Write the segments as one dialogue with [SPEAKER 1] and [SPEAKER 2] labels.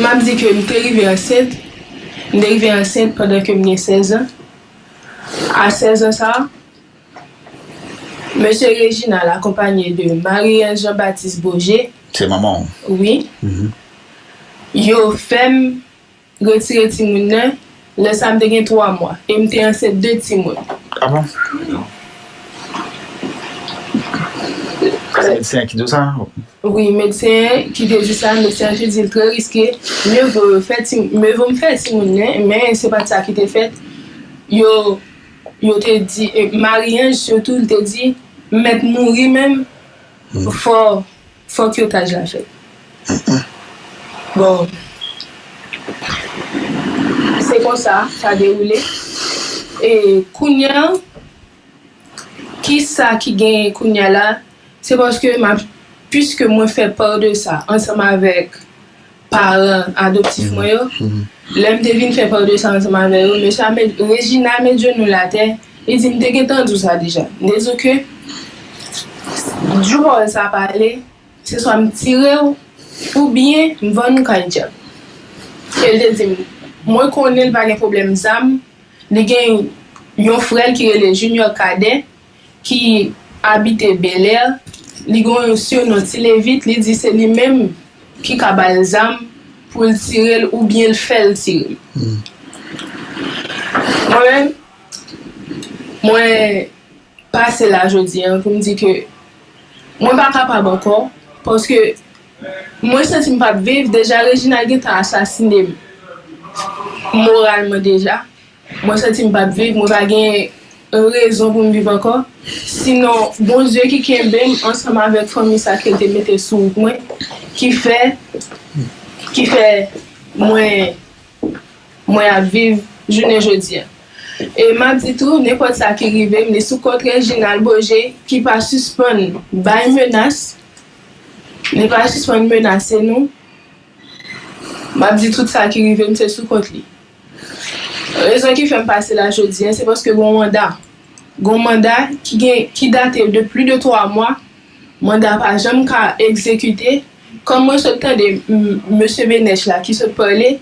[SPEAKER 1] M ap di ke m te rive ansent, m te rive ansent pandan ke m gen 16 an. A 16 an sa a, Mesye Reginald akonpanye de Marie-Ange Jean Baptiste Beaugé, Se manman w?
[SPEAKER 2] Wi.
[SPEAKER 1] Yo fè m retire timoun nan Lè sa a, m te gen twa mwa e m te ansent de timoun.
[SPEAKER 2] Wi, medsen
[SPEAKER 1] an ki te di sa, medsen an te di l trè riske, mye vo yo fè ti, mye vo m fè timoun nan, men se pa t sa ki te fèt. Yo, yo te di, Marie-Ange sitou, li te di, M mèt mouri menm, fò. Fòk tyotaj la fèt. Bon, se konsa sa dewoule. E kounye a, ki sa ki genyen kounye a la, se paske m ap, piske mwen fè part de sa ansanm avèk. paran adoptif mwen yo, lè m te vin fè pa 200 ansanm avè yo, mesye a met, Regina met jenou l atè, li di, m te gentan di w sa deja, m te di w ke jou pawòl sa pa ale, se swa m tire w oubyen m vann ou kay dyab. E l te di m, mwen konnen l pa gen pwoblèm zam, li gen yon frè l ki rele Junior Cadet, ki abite Belè, li gen yon siyonon Ti Levit, li di se li menm ki ka ba l zam pou l tire l oubyen l fè l tire l. Mwen menm, mwen pase la jodi a pou m di ke mwen pa kapab ankò paske mwen santi m p ap viv, deja Reginald gen tan asasine m moralman deja. Mwen santi m pap viv, mwen pa gen rezon pou m viv ankò, sinon Bondye ki kenbe m ansanm avèk fanmi sa ke l te mete sou wout mwen ki fè ki fè mwen mwen ap viv jounen jodi a. E m ap di tou nenpòt sa ki rive m li sou kont Reginald Beaugé ki pa sispann bay menas, li pa sispann menase nou, m ap di tout sa ki rive m se sou kont li. Rezon ki fè m pase la jodi a, se paske gon manda. Gon manda ki gen, ki date de pli de 3 mwa, manda pa janm ka egzekite. Kòm mwen sot tande mesye Benech la ki sot pale,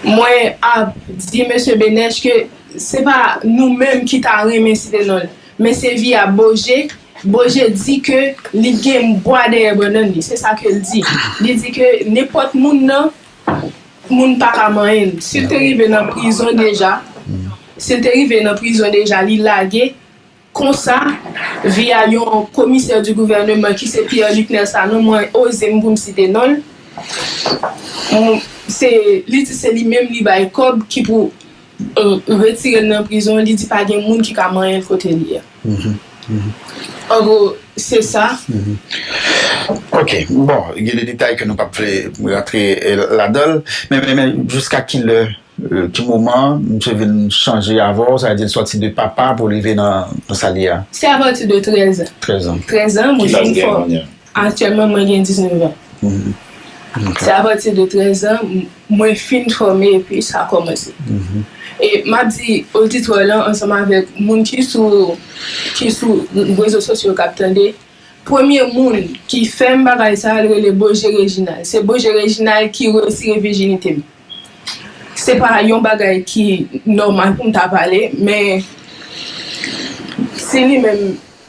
[SPEAKER 1] mwen ap di mesye Benech ke se pa nou menm ki ta renmen site non l, men se vi a Boje. Boje di ke li gen bwa dèyè bannann li, se sa ke l di. Li di ke nenpòt moun nan. Moun paka manyen l. Sil te rive nan prizon deja sil te rive nan prizon deja li lage konsa via yon komisè di gouvèneman ki se Pierre Luc Nel Sanon mwen oze m pou m site non l se li di se li menm li bay kòb ki pou retire l nan prizon li di pa gen moun ki ka manyen l kote li a. An gwo, se sa.
[SPEAKER 2] Ok. Bon, gen de detay ke nou pap vle rantre ladan l. Men, men, men, jiska ki lè, ki moman misye vin chanje avè w? Sa vle di l sòti de papa pou l rive nan sa l ye a? Se apati de trèzan. Trèzan.
[SPEAKER 1] Trèzan, mwen vin
[SPEAKER 2] fò. Ki laj li gen kounye a?
[SPEAKER 1] Aktyèlman mwen gen 19 an. Se apati de 13 zan mwen fin fòme epi sa kòmanse. E m ap di oditwa lan ansanm avèk moun ki sou ki sou rezo sosyo k ap tande, premye moun ki fè m bagay sa a l rele Boje Rejinal. Se Boje Rejinal ki retire vijinite m. Se pa yon bagay ki nòmal pou m ta pale men si li menm.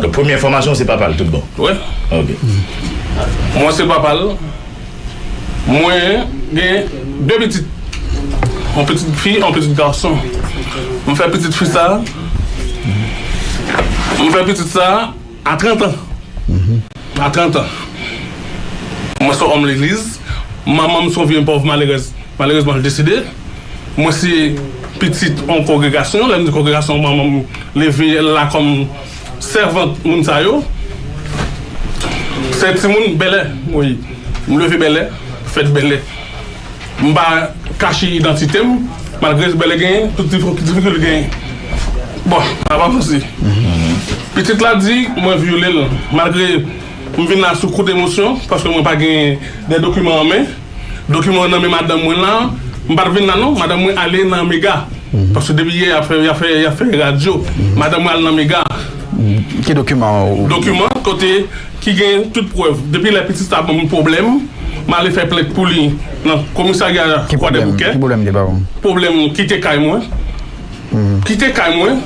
[SPEAKER 3] Donk premye
[SPEAKER 4] enfòmasyon ou se papa l tout bon? Wi. Ok.
[SPEAKER 3] Mwen se papa l. Mwen gen 2 pitit. Yon pitit fi, yon pitit gason. M fè pitit fi sa, m fè pitit sa a 30 an. Matantan, Mwen se yon òm legliz. Manman m se yon vye pòv malerèz. Malerezman, l deside. Mwen se pitit yon kongregasyon. Lè m di kongregasyon, manman m leve l la kòm sèvant moun sa yo. Se timoun Bèlè mwen ye. M leve Bèlè, fèt Bèlè. M pa kache idantite m, malgre jbè li genyen tout difikilte li genyen. Bon, m ap avanse. Pitit la di mwen vyole l, malgre m vin la sou kout emosyon, paske mwen pa gen de dokiman an men. Dokiman yo nan men madanm mwen la. M pa t vin la non, madanm mwen ale nan mega, paske depi yè y ap fè radyo. Madanm mwen al nan mega. Ki
[SPEAKER 2] dokiman? Dokiman kote.
[SPEAKER 3] ki gen tout prèv depi lè pitit sa banm pwoblèm m ale fè plent pou li nan komisarya kwadèboukè pwoblèm kite kay mwen kite kay mwen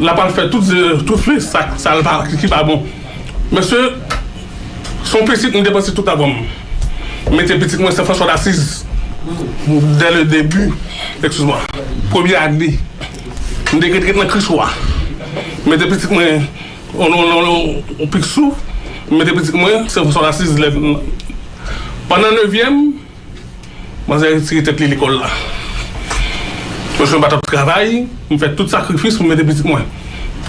[SPEAKER 3] l ap al fè tout fi sa l ki pa bon mesye s on pitit m depanse tout lavan m mete pitit mwen sen franswa dasiz dè le debi ekskiz mwa premye ane m te ret ret nan kris wa mete pitit mwen On on on on on pik sou m mete pitit mwen se François Assise lè m pandan nevyèm manzè retire tèt li lekòl la paske m pa t ap travay m fè tout sakrifis pou m mete pitit mwen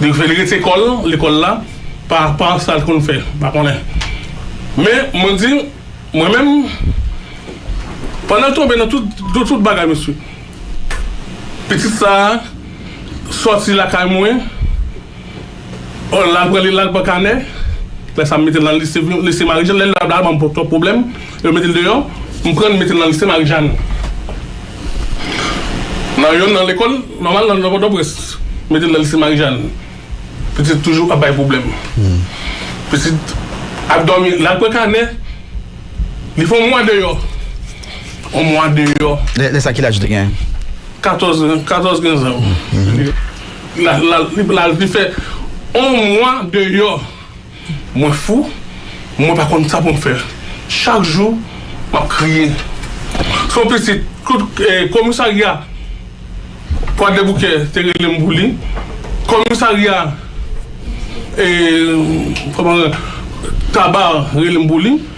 [SPEAKER 3] li fè li rete kò l lekòl la pa pa sa l konn fè m pa konnen men mwen di mwen menm pandan l tonbe nan tout nan tout bagay mesye pitit sa a sòti lakay mwen. Oh lal pran li lal pran kanè lè sa m metel nan lise m lise marijàn lè lap la banm twòp pwoblèm yo metel deyò m prann m metel nan lise marijàn nan yonn nan lekòl nòmal nan nan pòtoprens m metel nan lise marijàn pitit toujou ap bay pwoblèm pitit ap dòmi lal pran kanè li fè yon mwa deyò yon mwa deyò lè sa ki laj li te gen?
[SPEAKER 2] katòz
[SPEAKER 3] katòz kinzan Li fè on mwa deyò. Mwen fou, mwen pa konn sa pou m fè. Chak jou, m ap kriye. Se yon pitit komisarya Kwadèboukè te rele m pou li. Komisarya Taba rele m pou li.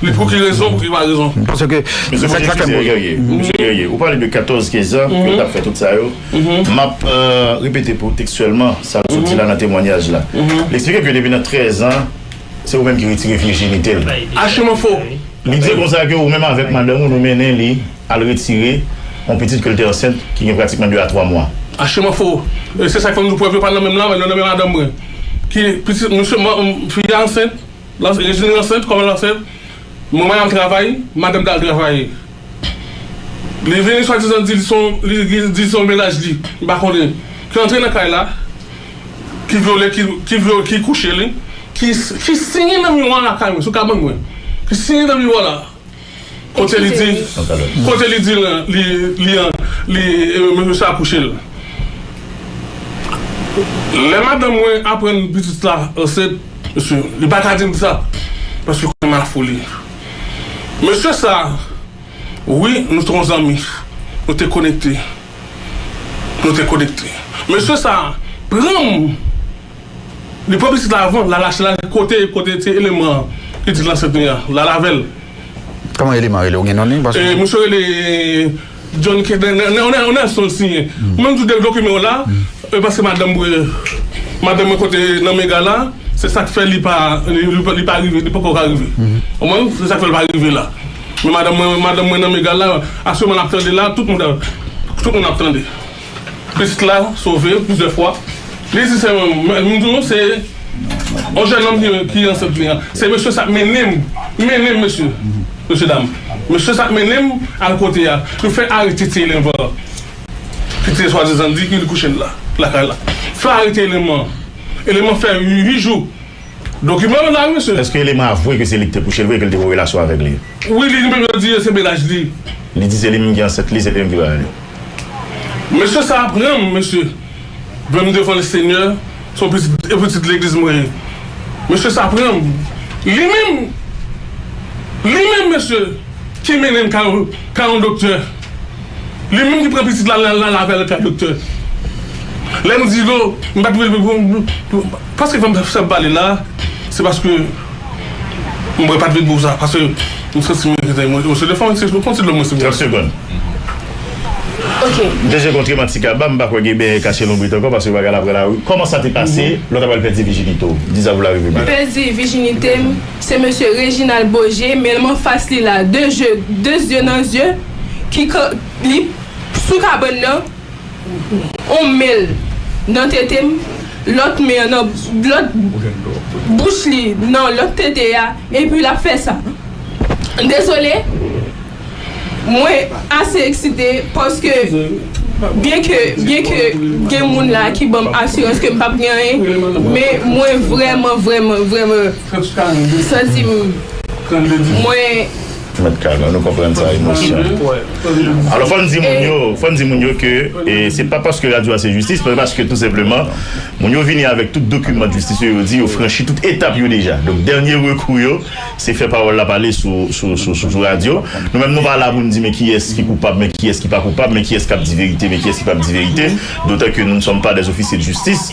[SPEAKER 3] Li pou ki rezon, pou ki pa rezon. Paske, se sak
[SPEAKER 2] la fèm. Mesye Guerrier,
[SPEAKER 4] Mesye Guerrier, ou pale de 14, 15 an, ke yo tap fè tout sa yo. Map repete pou ou tekstyèlman, sa l soti la nan temwanyaj la. Li eksplike ke depi nan 13 an, se ou menm ki retire vijinite l. Achiman fo!
[SPEAKER 3] Li di konsa
[SPEAKER 4] ke ou menm avèk madanm ou nou mennen li al retire yon pitit ke l te ansent, ki gen pratikman 2 a 3 mwa. Achiman fo!
[SPEAKER 3] Se sak fèm di w prèv yo pa nan menm la, men yo nan men madanm mwen. Ki pitit, misye, fi a ansent. Lanse Rejine ansent kòman l ansent manman l al travay madanm t al travay li vini swadizan di li di se yon mennaj li m pa konnen ki antre nan kay la ki vyole ki kouche li ki siye nan miwa lakay mwen sou kabann mwen ki siye nan miwa la. Kote li di Kote li di Li Mesye a kouche l Lè madanm mwen aprann pitit la ansent Mesye li pa ka di m sa Paske konnen m a fou li Mesye sa Wi nou te yon zanmi Nou te konekte Nou te konekte Mesye sa pran m Li pran pitit la avan lal achte lal kote kote ti eleman pitit lan sèt mia lal avèl. Koman
[SPEAKER 2] eleman rele ou gen non li paske. E misye rele
[SPEAKER 3] John ke nè nè nè nè nèlson l siyen ou menm tou de dokimen w la e paske madanm mwen madanm mwen kote nan mega la se sak fè li pa li pa rive li poko ka rive konprann se sak fè l pa rive la men madanm mwen madanm mwen nan mega la asyèlman lap tande la tout moun ap tande. Pitit la sove plizyè fwa. Li di sè mwen, m di nou se yon jènòm ki ansent li an. Se mesye sa k mennen m, mennen m mesye, mesye dam, mesye sa k mennen m al kote a. Yo fè arete ti elèv an ki te swadizan di ke li kouche lakay la. Yo fè arete elèm an. Elèm an fè uit jou. Dokiman yo la wi mesye. Eske elèm an avwe ke se li
[SPEAKER 4] ki te kouche l vre e ke li te gen relasyon avèk li? Wi, li menm yo di
[SPEAKER 3] se menaj li. Li di se li
[SPEAKER 4] menm ki ansent li, se li menm ki bay li. Mesye
[SPEAKER 3] sa a pranm mesye vèm devan le senyè son pitit e pitit legliz mwen ye mesye sa pranm li menm li menm mesye ki mennenm kay yon doktè li menm ki pran pitit la lal avèl kay doktè lèm dilo mpat vle Paske fèm fèm pale la se paske mwen pat vle di sa paske m santi m te emosyonel fòk mwen eksprime konsi lò mwen se 30 segond ok
[SPEAKER 1] m te sekontre
[SPEAKER 4] m ak ti kaba m pa kwè gen benyen kache lonbrit ankò paske bagay la pral awi kòman sa te pase lò ta pral pèdi vijinite w di sa pou la reve byen. Pèdi vijinite
[SPEAKER 1] m se mesye Reginald Beaugé men m anfas li la de je de zye nan zye ki kan li sou kabann nan. on menl nan tetem lòt men an nan lòt bouch li nan lòt tete a epi lap fè sa dezole mwen ase eksite paske byen ke byen ke gen moun la ki banm asirans kem pap gen anyen men mwen vrèman vrèman vrèman santim mwen. Mèt
[SPEAKER 4] Carl, nou konprann sa emosyon. Alò fò n di moun yo, fò n di moun yo ke se pa paske radyo a se jistis, men paske tou senpleman moun yo vini avèk tout dokiman jistis yo, yo di yo franchi tout etap yo deja. Donk dènye rekou yo se fè pawòl la pale sou radyo. Nou menm nou pa la pou n di men kiyès ki koupab, men kiyès ki pa koupab, men kiyès k ap di verite, men kiyès ki p ap di verite, dotan ke nou ne sommes pas des officiers de justice.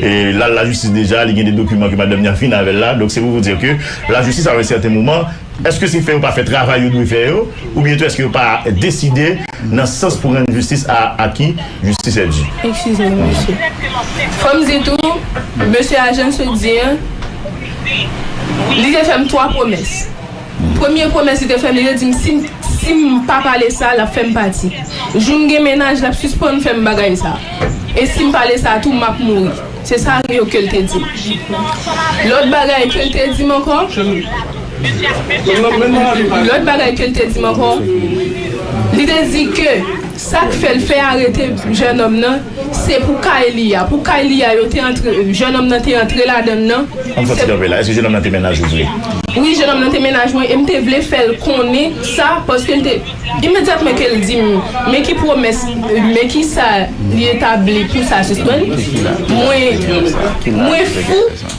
[SPEAKER 4] l al lajistis deja, li gen de dokiman ke madanm ni a vin avè l la, donk se pou vou dir ke lajistis a yon sèten moman, èske se fè yo pa fè travay yo dwe fè yo, oubyen tou èske yo pa deside nan sans pou rann jistis a aki jistis è di. Ekskize m mesye.
[SPEAKER 1] Fò m di tou, mesye a Jann Soudir, li te fè m 3 pwomès. Premye pwomès li te fè m li te di m si m si m pa pale sa l ap fè m pati. Jou m gen mennaj l ap sispann fè m bagay sa. E si m pale sa tou m ap mouri. Se sa yo ke l te di m. Lòt bagay ke l te di m ankò Lòt bagay ke l te di m ankò Li te di ke Sak fèl fè arete jènòm nan se pou kay li a, pou kay li a yo te antre jènòm nan te antre ladann nan. Ann fè ti kanpe la, èske
[SPEAKER 4] jènòm nan te mennaj ou vre? Wi jènòm
[SPEAKER 1] nan te mennaj mwen e m te vle fèl konnen sa paske l te imedyatman ke l di m men ki pwomès men kisa li etabli pou sa sisprann mwen mwen fou.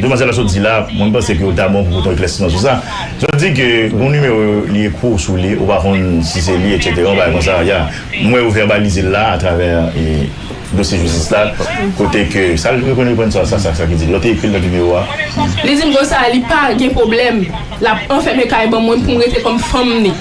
[SPEAKER 4] Demwazèl la sot di la, mwen m panse ke ou ta bon pou pote yon eklèsiman sou sa. Sot di ke gon nimewo li ekri w sou li, ou pa konn si se li etc. Yon bagay konsa, ya. M wè ou vèbalize l la atravè dosye jistis la, kote ke sa l reprann reprann sa, sa sa ki di l. Lò te ekri l nan nimewo a. Li di m konsa,
[SPEAKER 1] li pa gen pwoblèm, l ap anfème kay ban mwen pou m rete kòm fanm li.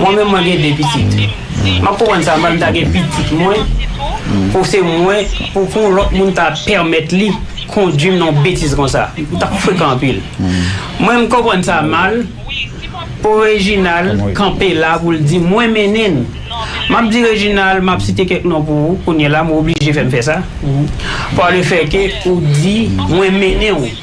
[SPEAKER 5] Mwen menm mwen gen 2 pitit. Map konprann sa m'en ta gen pitit mwen pou se mwen pou pou lòt moun ta pèmèt li kondwim nan yon betiz konsa. M tap frekan anpil. Mwen m konprann sa mal pou Reginald kanpe la pou l di mwen mennen n. Map di Reginald map site kèk non pou ou kounyela m oblije fè m fè sa pa le fè ke ou di mwen mennen w.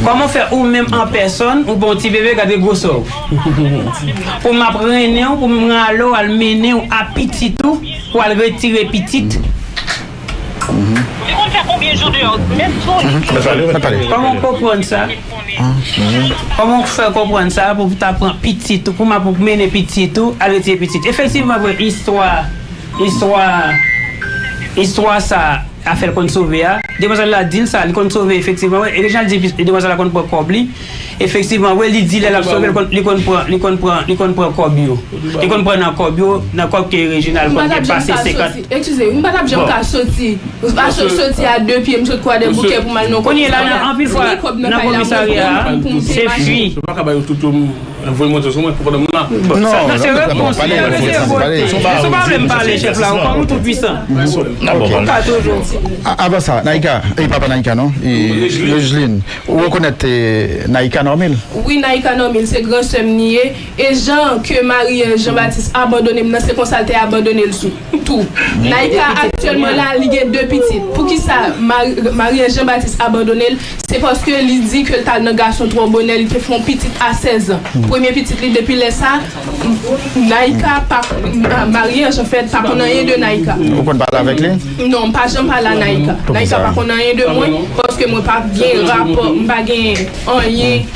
[SPEAKER 5] Koman fè ou menm an pèsòn ou bon ti bebe gade gwosè w pou map rennen w pou m rale w al mennen w a pitit ou pou al retire pitit Koman w konprann sa Koman w fè konprann sa pou ta pran pitit ou pou map mennen pitit ou al retire pitit efektivman vre istwa istwa istwa sa. afèl konn sove a demwazèl la dil sa li konn sove efektivman wi e Reginald di epi demwazèl la konn pran kòb li efektivman wi li di lè lap sovel li konn pran li konn pran li konn pran kòb yo li konn pran nan kòb yo nan kòb ke Reginald konn gen pase 50 bon
[SPEAKER 1] kounyela nan anpil fwa
[SPEAKER 5] nan komisarya a se fi.
[SPEAKER 3] Voye montre sou mwen pou pwoblèm la. Sa nan se repons
[SPEAKER 5] li a mesye vote. Sou pa vle m pale chèf la ou kwè ou tou pwisan. Ou pa toujou. Avan sa
[SPEAKER 2] Naïka e pa pa Naïka non e Regeline ou rekonèt Naïka Normil? Wi Naïka Normil
[SPEAKER 1] se gran sè m li ye e jan ke Marie Jean Baptiste abandone m nan se konsa l te abandone l sou. tou. Naïka aktyèlman la li gen 2 pitit poukisa Marianne Jean Baptiste abandone l se paske li di ke l t al nan gason twò bonè li te fè yon pitit a 16 zan premye pitit li depi lè sa Naïka pa Marianne Jean fè pa konn anyen de Naïka Ou konn pale avèk li?
[SPEAKER 2] Non m pa janm pale a
[SPEAKER 1] Naïka Naïka pa konn anyen de mwen paske mwen pa gen rapò m pa gen anyen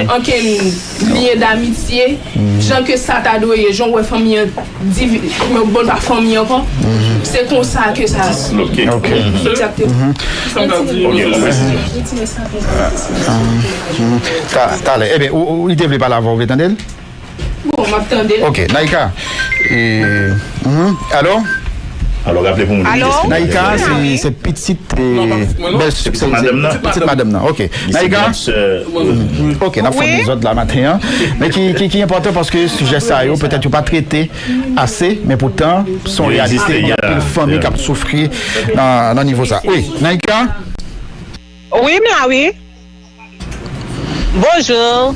[SPEAKER 1] ankenn. Lyen damitye jan ke sa
[SPEAKER 2] ta dwe ye, jan ou wè fanmi an divi, yo bon pa fanmi ankò,
[SPEAKER 1] se konsa ke sa
[SPEAKER 2] Bon, m ap tande l. Alò raple
[SPEAKER 4] pou moun ki destine Naïka
[SPEAKER 2] se pitit bèlsè pitit madanm nan pitit madanm nan ok Naïka ok nap fè dezòd la maten an men ki enpòtan paske sijè sa yo petèt yo pa trete ase men poutan son reyalite gen anpil fanmi kap soufri nan nivo sa wi Naïka
[SPEAKER 6] wi m la wi bonjour.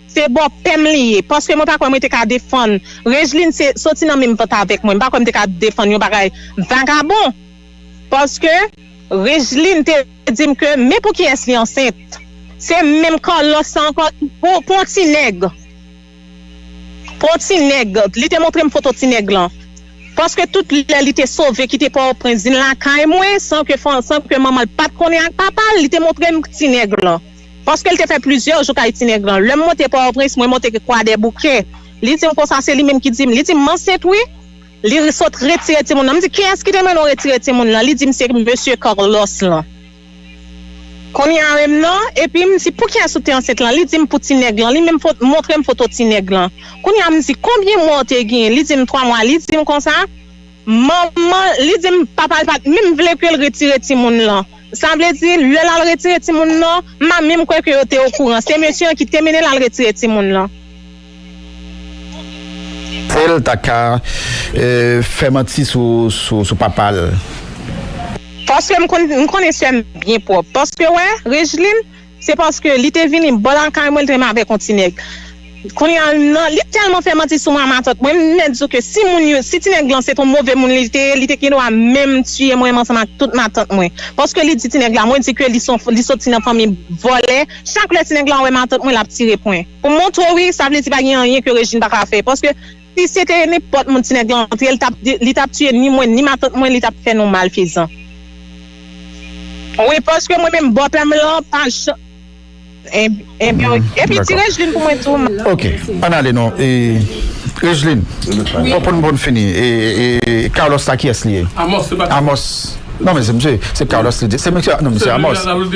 [SPEAKER 6] Se bò pèm li ye paske mwen pa kwè mwen te ka defann Regeline se soti nan menm vant avèk mwen m pa kwè m te ka defann yon bagay vagabon paske Regeline te di m ke men pou kiyès li ansent se menm Carlos sa ankò pou pou yon ti nèg pou yon ti nèg li te montre m foto ti nèg lan paske tout lè li te sove kite pòtoprens vin lakay mwen san ke san ke manman l pat konnen ak papa l li te montre m ti nèg lan. Paske l te fè plizyè jou kay Tinègran. Lè m monte Pòtoprens, mwen monte Kwadèboukè. Li di m konsa, se li menm ki di m. Li di m, m ansent wi. Li sot retire timoun lan. M di, kiyès ki te mande w retire timoun lan? Li di m, se mesye Carlos lan. Kounye a menm non. Epi m di, pou kiyès ou te ansent lan? Li di m, pou Tinèg lan. Li menm montre m foto Tinèg lan. Kounye a m di, konbyen mwa ou te genyen? Li di m, twa mwa. Li di m konsa. Manman li di m papa l pa t menm vle ke l retire timoun lan. Sa vle di, lè l al retire timoun lan, m pa menm kwè ke yo te okouran. Se mesye an ki te mennen l al retire timoun lan.
[SPEAKER 2] Ke l ta ka fè manti sou papa l.
[SPEAKER 6] Paske m konnen sè m byen pwòp. Paske wè, Rejlin. Se paske li te vini bò lakay mwen li te renmen avèk yon ti nèg. Kounye a nan li tèlman fè manti sou mwen a matant mwen m mèt di w ke si moun yo si ti nèg lan se t yon move moun li te ye li te gendwa menm tiye mwen ansanm ak tout matant mwen paske li di ti nèg la mwen di ke li son li soti nan fanmi vòlè chak lè ti nèg la wè matant mwen l ap tire pwen pou m montre w wi sa vle di pa gen anyen ke Rejin pa ka fè paske Si se te nenpòt moun ti nèg lan antre li tap tiye ni mwen ni matant mwen li tap fè nou malfezan wi paske mwen menm bòpè m lan pa janm Ebyen ok epi di Rejlin pou mwen tou. Ok ann ale non
[SPEAKER 2] e Rejlin
[SPEAKER 3] bon pou
[SPEAKER 2] n bon fini e Carlos la kiyès li ye Amos non men se misye se Carlos li di se misye non misye Amos
[SPEAKER 3] Amos.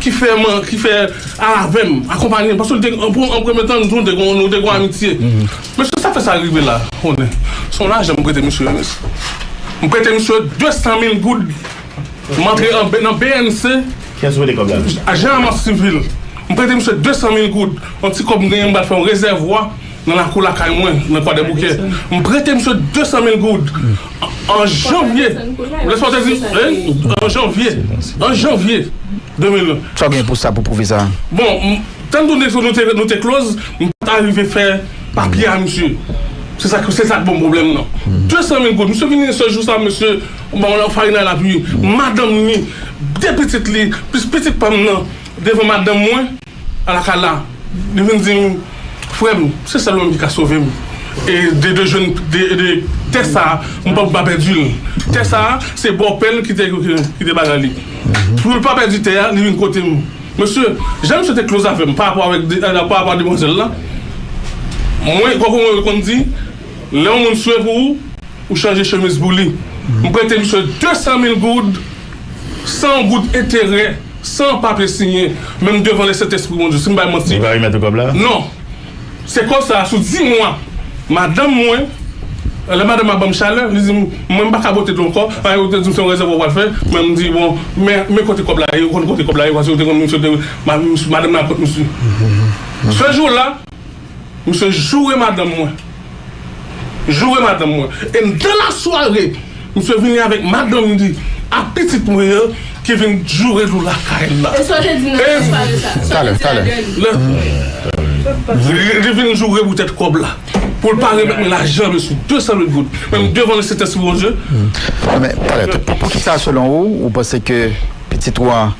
[SPEAKER 3] ki fè man ki fè al avèm akonpanyem paske te an premye tan nou te nou te gon amitye mesye sa fè sa rive la konnen son lajan m prete misye m prete misye 200 mil goud m antre an nan bnc
[SPEAKER 4] ajan an mas sivil
[SPEAKER 3] m prete misye 200 mil goud yon ti kòb m genyen m pral fè yon rezèvwa Nan lakou lakay mwen, nan Kwadèboukè, m prete misye 200 mil goud an janvye, lè sa w te di, an janvye, an janvye 2001. Sa w gen pou sa, pou
[SPEAKER 2] pwouve sa? Bon,
[SPEAKER 3] tann tou nou te, nou te kloz, m pa t arive fè papye a misye. Se sa k, se sa k bon pwoblèm nan. 200 mil goud, misye vini yon sèl jou sa, misye ban m yon farinay lapui, madanm ni, 2 pitit li, plis pitit pa m nan, devan madanm mwen. Ala kala, li vin di m, Frè m, se sèl ou menm ki ka sove m. E de de jwenn de de tè sa a, m pa pou pa pèdi l. Tè sa a, se bòpè l ki te ki te bagay li. Pou l pa pèdi tè a, li vin kote m. Mesye, jan misye te kloz avè m parapò avèk de parapò a demwazèl la, mwen konprann mwen konn di, lè yon moun swe pou ou, ou chanje chemiz pou li. M prete misye 200 mil goud san yon goud enterè. San papye siyen, menm devan le Sentespri Bondye, si m bay manti. Li va remèt ou kòb la? Non. Se kòb sa a, sou di mwa, madanm mwen, lè madanm a ban m chalè, li di m, mwen m pa ka bwote dlo ankò, paske yo te di m se yon rezèvwa w pral fè, men m di, bon, men, men kote kòb la ye, ou konn kote kòb la ye, paske yo te konn misye te, madanm nan ak kont misye. Sèl jou la. Misye joure madanm mwen. Joure madanm mwen. E nan lasware, misye vini avèk madanm li ak pitit mwen yo ki vin joure nou lakay l la. E sa w te
[SPEAKER 1] di nan lasware
[SPEAKER 2] sa a?
[SPEAKER 3] Sa w te di a Gèni? Li vin joure poutèt kòb la. Pou l pa remèt mwen lajan m yo sou 200 mil goud. Men m devan le Sentèsi Bondye. Talè.
[SPEAKER 2] Poukisa selon ou, ou panse ke. Pitit ou an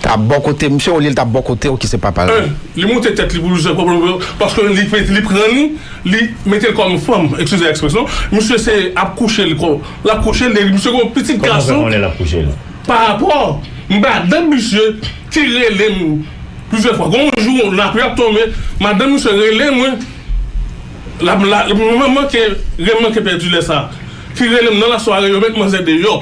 [SPEAKER 2] ta bò kote misye olye li ta bò kotew ki se papal la. 1 li moute tèt li
[SPEAKER 3] pou l jwenn pwoblèm yo paske li pete li pran li li mete l kòm fanm ekskize ekspresyon misye se ap kouche l kòm l ap kouche l e misye gen yon pitit Kòman w fè gason konnen l ap kouche l?
[SPEAKER 4] parapò
[SPEAKER 3] madanm misye ki rele m plizyè fwa gen yon jou lapli ap tonbe madanm misye rele mwen l ap la m manke ren m manke pèdi lè sa ki rele m nan lasware yo met manzè deyò.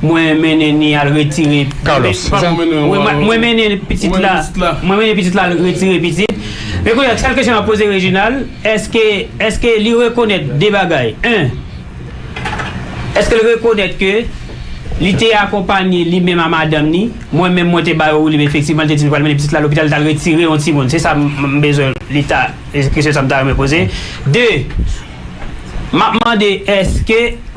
[SPEAKER 5] Mwen mennen ni al retire Carlos.
[SPEAKER 2] Mwen
[SPEAKER 5] mennen pitit la Mwen mennen pitit la al retire pitit Men kounye a sèl kesyon map poze Reginald èske èske li rekonèt 2 bagay 1 èske l rekonèt ke li te akonpanye li menm a madanm ni mwen menm mwen te ba yo woulib efektivman li te di li pral mennen pitit la lopital li tal retire yon timoun se sa m bezwen li ta se kesyon sa m ta renmen poze 2 map mande èske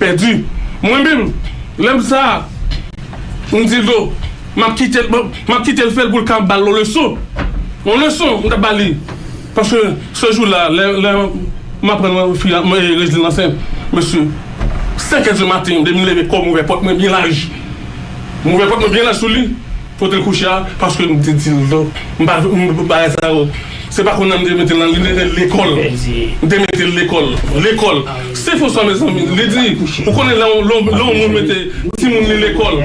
[SPEAKER 3] Pèdi. Mwen menm, lè m sa a, m di Ldo, m ap kite l, m ap kite l fè l pou l ka ba l yon leson. Yon leson m t ap ba li. Paske se jou la, lè, lè m aprann fi a, Rezlin ansent, mesye, senkè di maten, depi m leve kò m ouvè pòt mwen byen laj. M ouvè pòt mwen byen laj sou li. Kote l kouche a paske m te di l do m pa vle m bagay sa yo se pa konnya m te mete l nan li te rele lekòl m te mete l lekòl lekòl se fo sa mezanmi li di ou konnen lè yon lè yon moun mete timoun li lekòl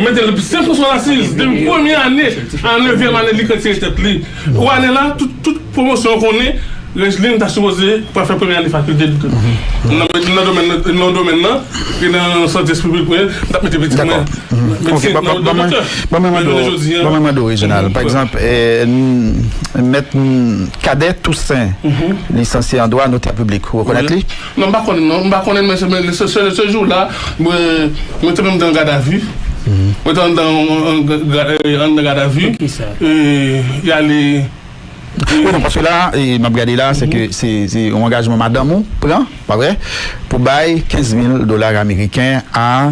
[SPEAKER 3] mete l se fo sa l asiz depi premye ane a nevyèm ane li k retire tèt li. Pou ane la, tout pwomosyon konnen Regeline ta sipoze pral fè premye ane fakilte l nan domèn nan e nan sante espri piblik mwen m tap mete pitit mwen medsen nan
[SPEAKER 2] wout de doktè Ban mwen mande w Reginald pa egzanp mèt Cadet Toussaint lisansye an dwa notè piblik ou rekonèt li? Non m pa konnen non, m
[SPEAKER 3] pa konnen men se jou la mwen te menm te an gadavi, mwen te andan gadavi e y ale. Ou non
[SPEAKER 2] paske la m ap gade la se ke se yon angajman madanm ou pran pa vre pou bay 15 mil dola ameriken a.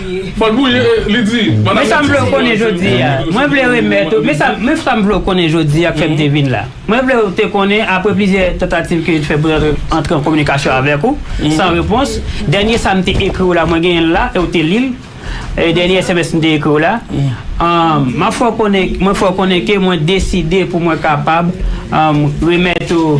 [SPEAKER 3] Men sa m vle w konnen
[SPEAKER 5] jodi a, mwen vle remèt ou, men sa m vle w konnen jodi a k fè m te vin la. Mwen vle w te konnen apre plizyè tantativ ke yo te fè pou antre an kominikasyon avèk ou, san repons, dènye sa m te ekri w la, mwen genyen l la e w te li l, dènye sms m te ekri w la, m ap fè w konnen, mwen fè w konnen ke mwen deside pou mwen kapab remèt ou.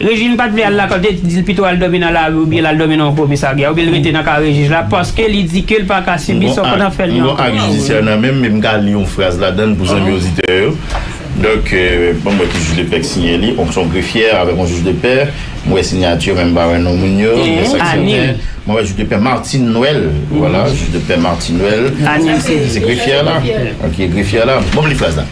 [SPEAKER 5] Régine pa t vle al lakòl, li te di l pito al dòmi nan lari oubyen l al dòmi nan yon komisarya oubyen l rete nan kare jij la paske li di ke l pa ka sibi sa w konn ap fè li ankò. M gon ak jidisyè nan men
[SPEAKER 4] m e m ka li yon fraz ladan l pou zanmi oditè yo. Donk, banm wè ki jij de pè k siyen li, se yon grefyè avèk yon jij de pè. M wè sinyati yo men m pa wè non moun yo. M wè sa k sèten, mwen wè jij de pè Martine Noël. Voilà, jij de pè Martine Noël. Anil se grefyè la. Ok, grefyè la. Banm li fraz la.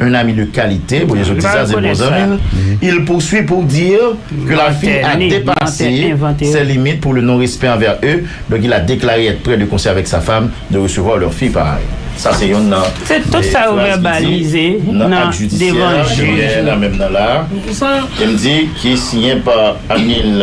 [SPEAKER 4] Un ami de qualité, pou Jezu di sa, se bon zanmi l, il poursuit pour dire que la fille a depasse ses limites pour le non respect envers eux, donc il a declare etre près de conseil avec sa femme de recevoir leur fille pareil. Sa se yonn nan fraz ki di
[SPEAKER 5] nan ak jidisyè,
[SPEAKER 4] genyen nan menm nan la, e m di ki siyen pa Anil.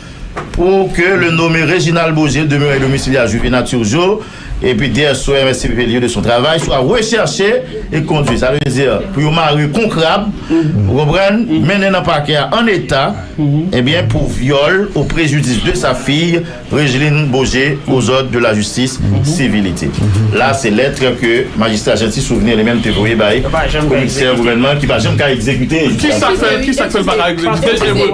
[SPEAKER 4] Pou ke le nome Reginald Beaugé demeure a domicile a Juvénat à Turgeau et puis DSO et MSCPP lieu de son travail soit recherché et conduit. Sa vle di pou yo mare kou krab, ou konprann, mennen nan pakè a an eta, ebyen pou vyòl au préjudice de sa fille Regeline Beaugé aux ordres de la justice civilité. La se lettre ke Majistra Jeanty Souvenir li menm te voye bay Komisè Gouvènman ki pa janm ka egzekite. Ki sa
[SPEAKER 3] k fè l pa ka egzekite?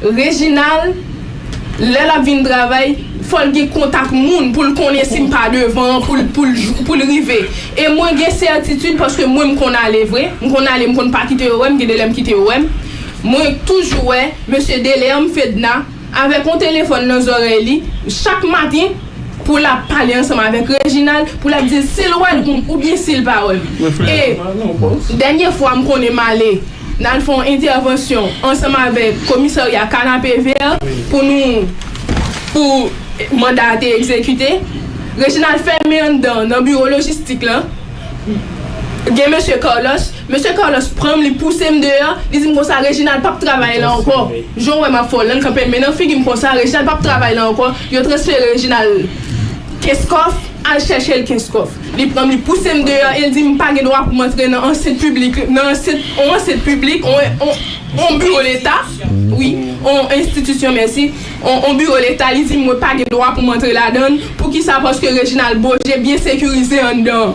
[SPEAKER 1] Reginald, Lè l ap vin travay, fò l gen kontak moun pou l konnen si m pa devan an pou l rive. E mwen gen sètitid paske mwen m konn ale vre. M konn ale, m konn pa kite yo wè m, gen de lè m kite yo wè m. Mwen toujou wè mesye Delerme, Fedna, avèk yon telefòn nan zòrèy li chak maten. pou lap pale ansanm avèk Reginald pou lap dil sil wèl ou byen sil pa wèl e dènye fwa m konnen m ale nal fè yon entèvansyon ansanm avèk komisarya kanapevè pou nou pou manda a te egzekite Reginald fèmen anndan nan biwo lojistik lan gen mesye Carlos. Mesye Carlos pranm li pousem deyò, li dim konsa Reginald pap travay la ankò, jan w wèm ap fè w lan l kanpe men nan figim konsa, Reginald pap travay la ankò, yo transfere Reginald Kenskòf, al chèche l Kenskòf. Li pranm li pousem deyò e l dim m pa gen dwa pou m antre nan ansent piblik, nan ansent, on ansent piblik, on, on, on biwo leta, wi, on enstitisyon mèsi, on, on biwo leta, li dim mwen pa gen dwa pou m antre ladan l, poukisa paske Reginald Beaugé byen sekirize anndan.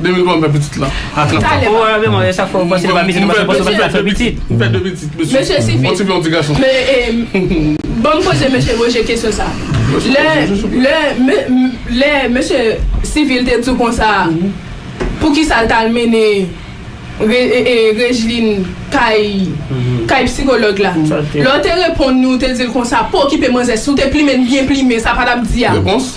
[SPEAKER 3] 2020 fè pitit la. Ou wè Raymond e
[SPEAKER 5] sak fè ou panse li pa pitit ou panse ou panse l fè pitit. M fè 2 pitit mesye.
[SPEAKER 3] Mesye sifi. Yon ti fi yon ti
[SPEAKER 1] gason. Banm poze mesye Roger kesyon sa. Lè mesye sivil te di w konsa a poukisa l t al mennen Regeline kay psikològ la. Lè w te reponn li ou te di l konsa pa okipe manzè si w te plimen l byen plimen sa pa t ap di a. Repons.